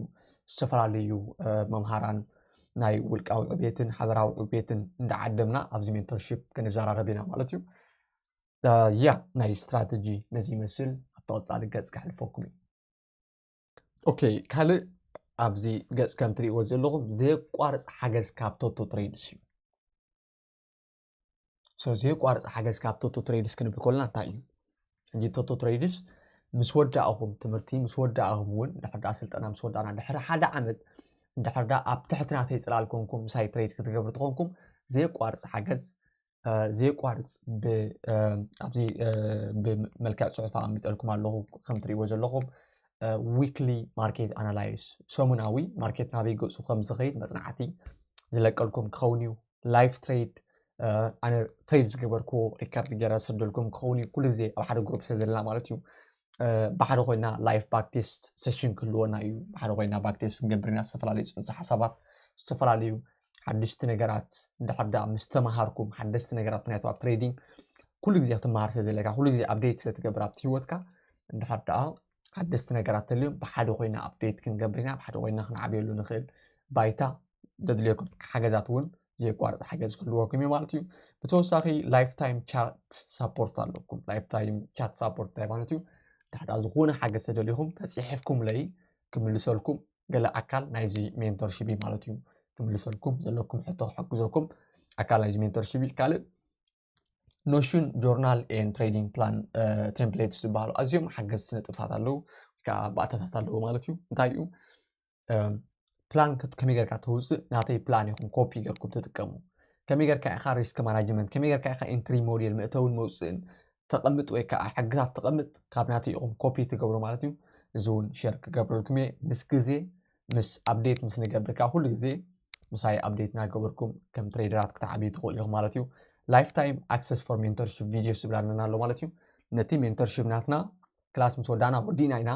ዝተፈላለዩ መምሃራን ናይ ውልቃዊ ዕብየትን ሓበራዊ ዕብየትን እንዳዓደምና ኣብዚ ሜንተርሽፕ ክንዘራረብ ኢና ማለት እዩ ያ ናይ ስትራተጂ ነዚ ይመስል ኣብ ተቐፃሊ ገፅ ከሕልፈኩም እዩ ኦኬ ካልእ ኣብዚ ገፅ ከም ትሪእዎ ዘለኹም ዘየቋርፅ ሓገዝ ካብ ቶቶ ትሬድስ እዩ ስለዚ የቋርፅ ሓገዝ ካብ ቶቶ ትሬድስ ክንብል ኮልና እንታይ እዩ ሕጂ ቶቶ ትሬድስ ምስ ወዳእኹም ትምህርቲ ምስ ወዳእኹም እውን ድሕር ዳኣ ስልጠና ምስ ወዳእና ድሕሪ ሓደ ዓመት ድሕር ዳኣ ኣብ ትሕቲ ናተይ ፅላል ኮንኩም ምሳይ ትሬድ ክትገብሩ ትኾንኩም ዘየቋርፅ ሓገዝ ዘየቋርፅ ኣብዚ ብመልክዕ ፅሑፍ ኣቐሚጠልኩም ኣለኹ ከም ትሪእዎ ዘለኹም ዊክሊ ማርኬት ኣናላይስ ሰሙናዊ ማርኬት ናበይ ገፁ ከም ዝኸይድ መፅናዕቲ ዝለቀልኩም ክኸውን እዩ ላይፍ ትሬድ ኣነ ትሬድ ዝገበርክዎ ሪከርድ ገረ ሰደልኩም ክኸውን እዩ ኩሉ ግዜ ኣብ ሓደ ግሩፕ ስለ ዘለና ማለት እዩ ብሓደ ኮይና ላይፍ ባክቴስት ሴሽን ክህልወና እዩ ብሓደ ኮይና ባክቴስት ክንገብር ኢና ዝተፈላለዩ ፅንሰ ሓሳባት ዝተፈላለዩ ሓደሽቲ ነገራት እንድሕር ዳ ምስ ተምሃርኩም ሓደስቲ ነገራት ምክንያቱ ኣብ ትሬዲንግ ኩሉ ግዜ ክትምሃር ስለ ዘለካ ኩሉ ግዜ ኣብዴት ስለ ትገብር ኣብቲ ሂወትካ እንድሕር ደኣ ሓደስቲ ነገራት ተልዮም ብሓደ ኮይና ኣብዴት ክንገብር ኢና ብሓደ ኮይና ክንዓብየሉ ንኽእል ባይታ ዘድልየኩም ሓገዛት እውን ዘየቋርፅ ሓገዝ ክህልወኩም እዩ ማለት እዩ ብተወሳኺ ላይፍ ታይም ቻት ሳፖርት ኣለኩም ላይፍ ታይም ቻት ሳፖርት እንታይ ማለት እዩ ድሕዳ ዝኾነ ሓገዝ ተደሊኹም ተፅሒፍኩም ለይ ክምልሰልኩም ገለ ኣካል ናይዚ ሜንተርሽፕ እዩ ማለት እዩ ክምልሰልኩም ዘለኩም ሕቶ ክሕግዘኩም ኣካል ናይዚ ሜንተርሽፕ እዩ ካልእ ኖሽን ጆርናል ኤን ትሬዲንግ ፕላን ቴምፕሌትስ ዝበሃሉ ኣዝዮም ሓገዝቲ ነጥብታት ኣለዉ ከዓ ባእታታት ኣለዎ ማለት እዩ እንታይ እዩ ፕላን ከመይ ጌርካ ተውፅእ ናተይ ፕላን ይኹም ኮፒ ጌርኩም ትጥቀሙ ከመይ ጌርካ ኢኻ ሪስክ ማናጅመንት ከመይ ጌርካ ኢኻ ኤንትሪ ሞዴል መእተውን መውፅእን ተቐምጥ ወይ ከዓ ሕግታት ተቐምጥ ካብ ናተይ ኢኹም ኮፒ ትገብሩ ማለት እዩ እዚ እውን ሸር ክገብረልኩም እየ ምስ ግዜ ምስ ኣብዴት ምስ ንገብር ከኣ ኩሉ ግዜ ምሳይ ኣብዴት እናገበርኩም ከም ትሬደራት ክትዓብዩ ትኽእሉ ኢኹም ማለት እዩ ላይፍ ታይም ኣክሰስ ፎር ሜንተርሽፕ ቪድዮስ ዝብል ኣለና ኣሎ ማለት እዩ ነቲ ሜንተርሽፕ ናትና ክላስ ምስ ወዳና ወዲእና ኢና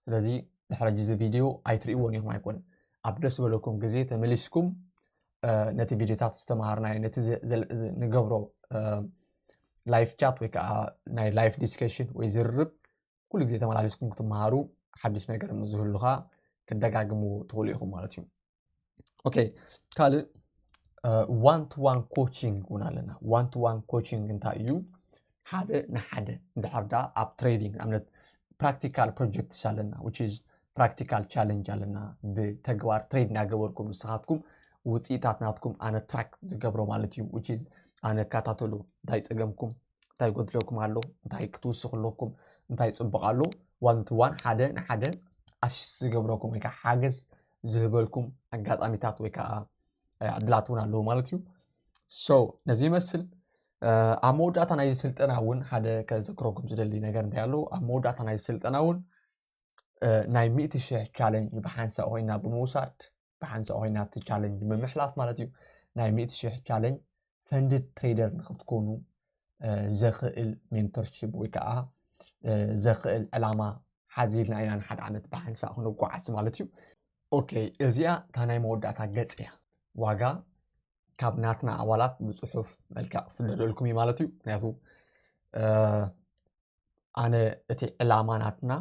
ስለዚ ድሕሪ ሕጂ እዚ ቪድዮ ኣይትርእይዎን ኢኹም ኣይኮነ ኣብ ደስ በለኩም ግዜ ተመሊስኩም ነቲ ቪድዮታት ዝተምሃርናዮ ነቲ ንገብሮ ላይፍ ቻት ወይ ከዓ ናይ ላይፍ ዲስከሽን ወይ ዝርርብ ኩሉ ግዜ ተመላሊስኩም ክትመሃሩ ሓድሽ ነገር ምስ ዝህሉኻ ክደጋግምዎ ትኽእሉ ኢኹም ማለት እዩ ኦኬ ካልእ ዋን ቱ ዋን ኮቺንግ እውን ኣለና ዋን ቱ ዋን ኮቺንግ እንታይ እዩ ሓደ ንሓደ እንድሕር ዳ ኣብ ትሬዲንግ ኣብነት ፕራክቲካል ፕሮጀክትስ ኣለና ዊች ኢዝ ፕራክቲካል ቻለንጅ ኣለና ብተግባር ትሬድ እናገበርኩም ንስኻትኩም ውፅኢታት ናትኩም ኣነ ትራክ ዝገብሮ ማለት እዩ ዊች ኢዝ ኣነ እከታተሎ እንታይ ፀገምኩም እንታይ ጎድለኩም ኣሎ እንታይ ክትውስኹ ኣለኩም እንታይ ፅቡቕ ኣሎ ዋን ቱ ዋን ሓደ ንሓደ ኣሲስ ዝገብረኩም ወይ ከዓ ሓገዝ ዝህበልኩም ኣጋጣሚታት ወይ ከዓ ዕድላት እውን ኣለዉ ማለት እዩ ሶ ነዚ ይመስል ኣብ መወዳእታ ናይ ስልጠና እውን ሓደ ከዘክረኩም ዝደሊ ነገር እንታይ ኣሎ ኣብ መወዳእታ ናይ ስልጠና እውን ናይ ሚእቲ ሽሕ ቻለንጅ ብሓንሳእ ኮይና ብምውሳድ ብሓንሳእ ኮይና እቲ ቻለንጅ ብምሕላፍ ማለት እዩ ናይ ሚእቲ ሽሕ ቻለንጅ ፈንድድ ትሬደር ንክትኮኑ ዘኽእል ሜንቶርሽፕ ወይ ከዓ ዘኽእል ዕላማ ሓዚልና ኢና ንሓደ ዓመት ብሓንሳእ ክንጓዓዝ ማለት እዩ ኦኬ እዚኣ እታ ናይ መወዳእታ ገፅ እያ ዋጋ ካብ ናትና ኣባላት ብፅሑፍ መልክዕ ክስደደልኩም እዩ ማለት እዩ ምክንያቱ ኣነ እቲ ዕላማ ናትና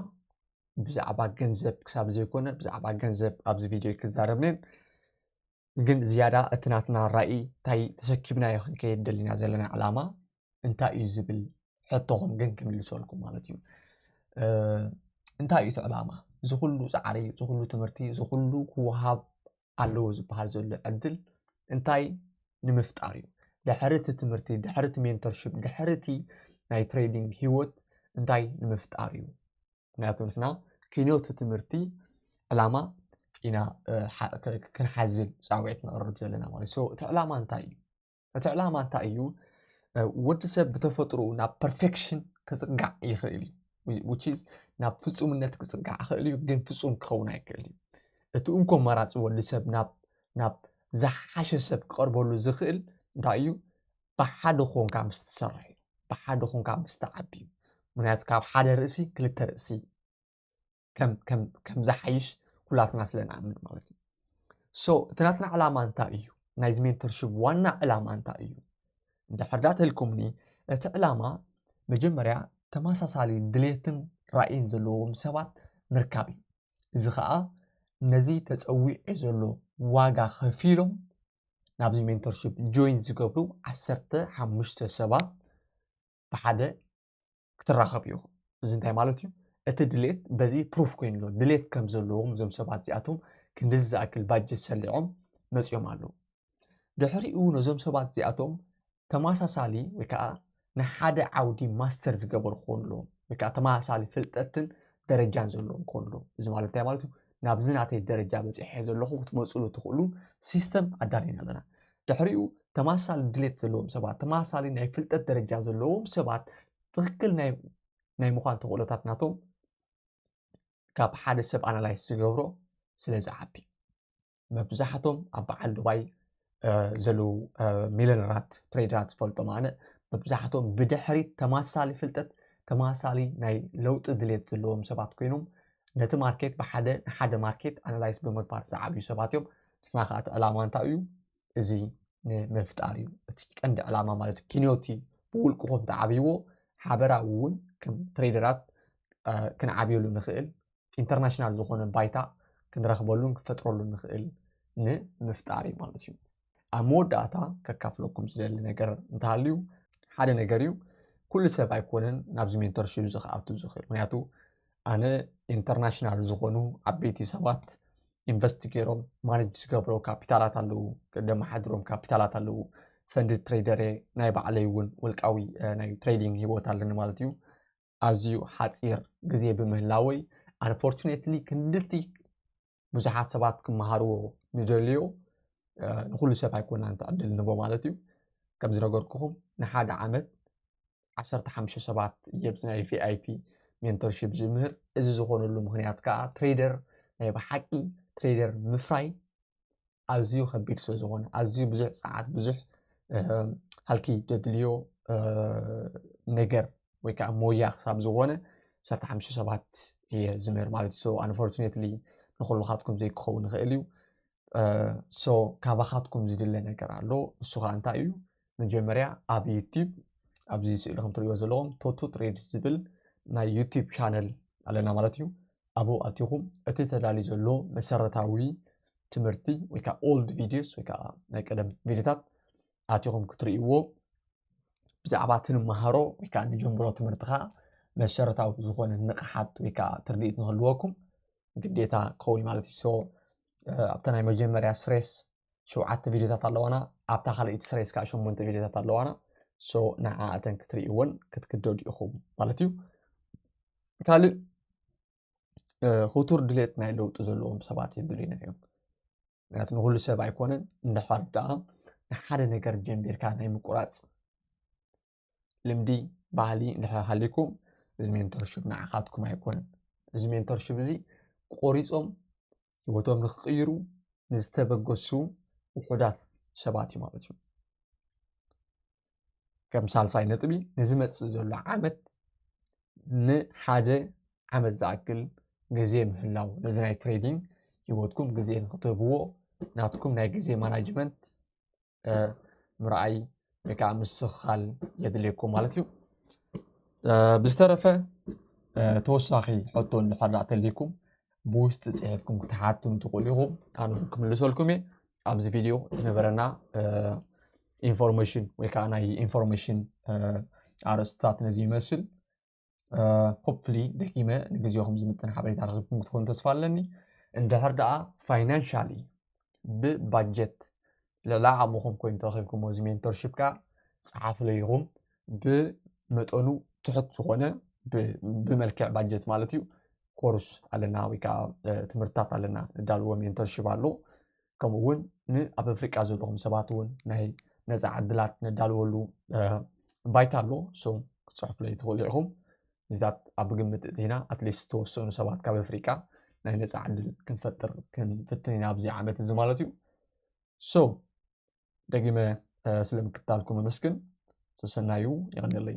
ብዛዕባ ገንዘብ ክሳብ ዘይኮነ ብዛዕባ ገንዘብ ኣብዚ ቪድዮ ክዛረብንን ግን ዝያዳ እቲ ናትና ራእይ እንታይ ተሰኪብናዮ ክንከየድ ደሊና ዘለና ዕላማ እንታይ እዩ ዝብል ሕቶኹም ግን ክምልሰልኩም ማለት እዩ እንታይ እዩ እቲ ዕላማ ዝኩሉ ፃዕሪ ዝኩሉ ትምህርቲ ዝኩሉ ክወሃብ ኣለዎ ዝበሃል ዘሎ ዕድል እንታይ ንምፍጣር እዩ? ድሕሪ እቲ ትምህርቲ፣ ድሕሪ እቲ ሜንቶርሽፕ፣ ድሕሪ እቲ ናይ ትሬዲንግ ህይወት እንታይ ንምፍጣር እዩ? ምክንያቱ ንሕና ክንዮት ትምህርቲ ዕላማ ኢና ክንሓዝል ፃውዒት ነቕርብ ዘለና ማለት እዩ። እቲ ዕላማ እንታይ እዩ? እቲ ዕላማ እንታይ እዩ ወዲ ሰብ ብተፈጥሮ ናብ ፐርፌክሽን ክፅጋዕ ይኽእል እዩ ውች ናብ ፍፁምነት ክፅጋዕ ይኽእል እዩ ግን ፍፁም ክኸውን ኣይክእል እዩ እቲ እንኮ መራፂ ወዲ ሰብ ናብ ዝሓሸ ሰብ ክቐርበሉ ዝኽእል እንታይ እዩ ብሓደ ኮንካ ምስ ትሰርሕ እዩ ብሓደ ኮንካ ምስ ትዓቢ እዩ ምክንያቱ ካብ ሓደ ርእሲ ክልተ ርእሲ ከም ዝሓይሽ ኩላትና ስለ ንኣምን ማለት እዩ ሶ እቲ ናትና ዕላማ እንታይ እዩ ናይዚ ሜንተርሽፕ ዋና ዕላማ እንታይ እዩ እንድሕርዳ ተልኩምኒ እቲ ዕላማ መጀመርያ ተመሳሳሊ ድሌትን ራእይን ዘለዎም ሰባት ምርካብ እዩ እዚ ከዓ ነዚ ተፀዊዑ ዘሎ ዋጋ ከፊሎም ናብዚ ሜንተርሽፕ ጆይን ዝገብሩ ዓሰርተ ሓሙሽተ ሰባት ብሓደ ክትራኸብ ኢኹ እዚ እንታይ ማለት እዩ እቲ ድሌት በዚ ፕሩፍ ኮይኑ ኣሎ ድሌት ከም ዘለዎም እዞም ሰባት እዚኣቶም ክንዲዚ ዝኣክል ባጀት ሰሊዖም መፂኦም ኣለዉ ድሕሪኡ ነዞም ሰባት እዚኣቶም ተመሳሳሊ ወይ ከዓ ንሓደ ዓውዲ ማስተር ዝገበሩ ክኾኑ ኣለዎም ወይ ከዓ ተመሳሳሊ ፍልጠትን ደረጃን ዘለዎም ክኾኑ ኣለዎም እዚ ማለት እንታይ ማለት እዩ ናብዚ ናተይ ደረጃ በፂሐ ዘለኹ ክትመፅሉ ትኽእሉ ሲስተም ኣዳሊና ኣለና ድሕሪኡ ተመሳሳሊ ድሌት ዘለዎም ሰባት ተመሳሳሊ ናይ ፍልጠት ደረጃ ዘለዎም ሰባት ትኽክል ናይ ምዃን ተኽእሎታት ናቶም ካብ ሓደ ሰብ ኣናላይዝ ዝገብሮ ስለ ዝዓቢ መብዛሕቶም ኣብ በዓል ዱባይ ዘለዉ ሚለነራት ትሬደራት ዝፈልጦም ኣነ መብዛሕትኦም ብድሕሪ ተመሳሳሊ ፍልጠት ተመሳሳሊ ናይ ለውጢ ድሌት ዘለዎም ሰባት ኮይኖም ነቲ ማርኬት ብሓደ ንሓደ ማርኬት ኣናላይስ ብምግባር ዝዓብዩ ሰባት እዮም ንሕና ከዓ እቲ ዕላማ እንታይ እዩ እዚ ንምፍጣር እዩ እቲ ቀንዲ ዕላማ ማለት እዩ ኪንዮቲ ብውልቅኹም ተዓብይዎ ሓበራዊ እውን ከም ትሬደራት ክንዓብየሉ ንኽእል ኢንተርናሽናል ዝኾነ ባይታ ክንረኽበሉን ክፈጥረሉን ንኽእል ንምፍጣር እዩ ማለት እዩ ኣብ መወዳእታ ከካፍለኩም ዝደሊ ነገር እንተሃልዩ ሓደ ነገር እዩ ኩሉ ሰብ ኣይኮነን ናብዚ ሜንተርሽፕ እዚ ክኣቱ ዝኽእል ምክንያቱ ኣነ ኢንተርናሽናል ዝኾኑ ዓበይቲ ሰባት ኢንቨስት ገይሮም ማነጅ ዝገብሮ ካፒታላት ኣለዉ ደመሓድሮም ካፒታላት ኣለዉ ፈንድ ትሬደር ናይ ባዕለይ እውን ውልቃዊ ናይ ትሬዲንግ ሂወት ኣለኒ ማለት እዩ ኣዝዩ ሓጺር ግዜ ብምህላወይ ኣንፎርቹነትሊ ክንድቲ ብዙሓት ሰባት ክመሃርዎ ንደልዮ ንኹሉ ሰብ ኣይኮናን እቲ ዕድል ንቦ ማለት እዩ ከም ዝነገርኩኹም ንሓደ ዓመት ዓሰርተ ሓሙሽተ ሰባት እየ ብዚ ናይ ቪኣይፒ ሜንቶርሺፕ ዝምህር እዚ ዝኾነሉ ምክንያት ከዓ ትሬደር ናይ ብሓቂ ትሬደር ምፍራይ ኣዝዩ ከቢድ ስለ ዝኾነ ኣዝዩ ብዙሕ ጸዓት ብዙሕ ሃልኪ ደድልዮ ነገር ወይ ከዓ ሞያ ክሳብ ዝኾነ ሰርተ ሓሙሽተ ሰባት እየ ዝምህር ማለት እዩ ኣንፎርቹኔትሊ ንኩልኻትኩም ዘይክኸውን ይኽእል እዩ ሶ ካባኻትኩም ዝድለ ነገር ኣሎ እሱ ከዓ እንታይ እዩ መጀመርያ ኣብ ዩቲብ ኣብዚ ስእሊ ከም ትሪእዎ ዘለኹም ቶቶ ትሬድ ዝብል ናይ ዩቲብ ቻነል ኣለና ማለት እዩ ኣብኡ ኣቲኹም እቲ ተዳልዩ ዘሎ መሰረታዊ ትምህርቲ ወይ ከዓ ኦልድ ቪዲዮስ ወይ ከዓ ናይ ቀደም ቪዲዮታት ኣቲኹም ክትርእይዎ ብዛዕባ እቲ ንመሃሮ ወይ ከዓ ንጀምሮ ትምህርትኻ መሰረታዊ ዝኾነ ንቕሓት ወይ ከዓ ትርድኢት ንክህልወኩም ግዴታ ክኸውን ማለት እዩ ኣብቲ ናይ መጀመርያ ስሬስ ሸውዓተ ቪድዮታት ኣለዋና ኣብታ ካልኣይቲ ስሬስ ከዓ ሸሞንተ ቪድዮታት ኣለዋና ሶ ንዓኣተን ክትርእይዎን ክትግደዱ ኢኹም ማለት እዩ ካልእ ክቱር ድሌት ናይ ለውጢ ዘለዎም ሰባት የድልዩና እዮም ምክንያቱ ንኩሉ ሰብ ኣይኮነን እንድሕር ደኣ ንሓደ ነገር ጀንቢርካ ናይ ምቁራፅ ልምዲ ባህሊ እንድሕር ሃሊኩም እዚ ሜንቶርሽፕ ንዓኻትኩም ኣይኮነን እዚ ሜንቶርሽፕ እዚ ቆሪፆም ህይወቶም ንክቅይሩ ንዝተበገሱ ውሑዳት ሰባት እዩ ማለት እዩ ከም ሳልሳይ ነጥቢ ንዝመፅእ ዘሎ ዓመት ንሓደ ዓመት ዝኣክል ግዜ ምህላው ነዚ ናይ ትሬዲንግ ህይወትኩም ግዜ ንክትህብዎ ናትኩም ናይ ግዜ ማናጅመንት ምርኣይ ወይ ከዓ ምስኻል የድልየኩም ማለት እዩ ብዝተረፈ ተወሳኺ ሕቶ እንድሕር ተልይኩም ብውሽጢ ፅሒፍኩም ክትሓቱን ትኽእሉ ኢኹም ኣነ ክምልሰልኩም እየ ኣብዚ ቪድዮ ዝነበረና ኢንፎርሜሽን ወይ ከዓ ናይ ኢንፎርሜሽን ኣርእስትታት ነዚ ይመስል ሆፕፍሊ ደጊመ ንግዜኹም ዝምጥን ሓበሬታ ረኽብኩም ክትኮኑ ተስፋ ኣለኒ እንድሕር ደኣ ፋይናንሻሊ ብባጀት ልዕሊ ዓቕምኹም ኮይኑ ተረኺብኩሞ እዚ ሜንቶርሽፕ ከዓ ፀሓፍለይኹም ብመጠኑ ትሕት ዝኾነ ብመልክዕ ባጀት ማለት እዩ ኮርስ ኣለና ወይ ከዓ ትምህርትታት ኣለና ንዳልዎ ሜንቶርሽፕ ኣሎ ከምኡ እውን ንኣብ ኣፍሪቃ ዘለኹም ሰባት እውን ናይ ነፃ ዕድላት ነዳልወሉ ባይታ ኣሎ ሶ ክፅሕፉለይ ትኽእሉ ኢኹም እዚታት ኣብ ግምት እቲና ኣትሊስት ተወሰኑ ሰባት ካብ ኣፍሪቃ ናይ ነፃ ዕድል ክንፈጥር ክንፍትን ኢና ኣብዚ ዓመት እዚ ማለት እዩ ሶ ደጊመ ስለምክታልኩም ኣመስግን ተሰናዩ ይቀንለይ